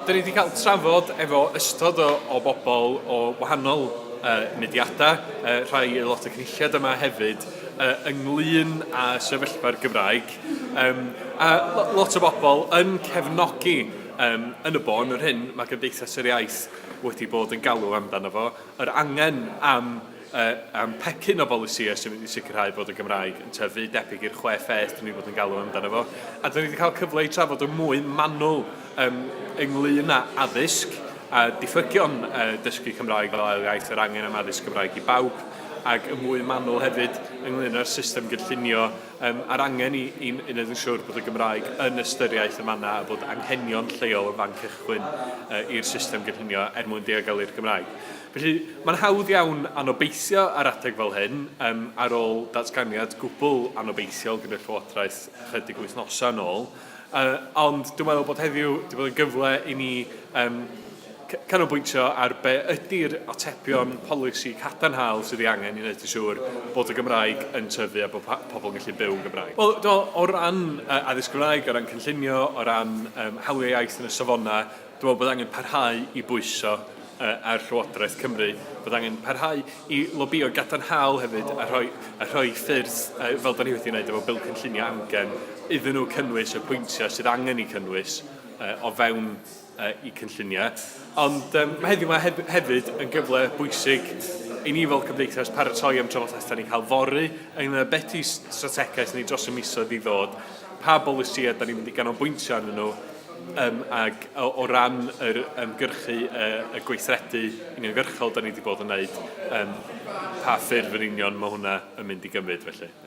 Dan ni wedi cael trafod efo ystod o, o bobl o wahanol uh, mudiadau, uh, rhai aelod y cynulliad yma hefyd, uh, ynglyn â sefyllfa'r Gymraeg. Um, a lot o bobl yn cefnogi um, yn y bôn yr hyn mae Gymdeithas yr Iaith wedi bod yn galw amdano fo, yr angen am y um, pecyn o bolisïau sy'n mynd i sicrhau bod y Gymraeg yn tyfu debyg i'r chwe pheth dyn ni bod yn galw amdano fo. A dyn ni wedi cael cyfle i trafod yn mwy manwl um, ynglyn â addysg a diffygion uh, dysgu Cymraeg fel ail iaith yr angen am addysg Gymraeg i bawb ac yn mwy manwl hefyd ynglyn â'r system gynllunio um, a'r angen i, i, i wneud yn siŵr bod y Gymraeg yn ystyriaeth y manna a bod anghenion lleol yn fan cychwyn uh, i'r system gynllunio er mwyn diogel i'r Gymraeg. Felly, mae'n hawdd iawn anobeithio ar adeg fel hyn, ar ôl datganiad gwbl anobeithiol gan y Llywodraeth ychydig wythnosau yn ôl. Ond dwi'n meddwl bod heddiw 'di bod yn gyfle i ni canolbwyntio ar be ydy'r atebion polisi cadarnhaol sydd ei angen i wneud yn siŵr bod y Gymraeg yn tyfu a bod pobl yn gallu byw yn Gymraeg. Wel, dwi'n meddwl, o ran addysg Gymraeg, o ran cynllunio, o ran hawliau iaith yn y safonau, Dwi'n meddwl bod angen parhau i bwyso ar Llywodraeth Cymru, bod angen parhau i lobïo gadarnhaol hefyd a rhoi, a rhoi ffyrdd, fel da ni wedi wneud efo Bil Cynllunio Amgen, iddyn nhw cynnwys y pwyntiau sydd angen eu cynnwys o fewn eu cynlluniau. Ond mae heddiw yma hefyd yn gyfle bwysig i ni fel cymdeithas paratoi am drafodaeth da ni'n cael fory ynglŷn â beth yw strategaeth ni dros y misoedd i ddod, pa bolisïau da ni'n mynd i ganolbwyntio arnyn nhw, Um, ac o, o ran yr ymgyrchu y, y gweithredu uniongyrchol da ni wedi bod yn wneud, um, pa ffurf yn union mae hwnna yn mynd i gymryd felly?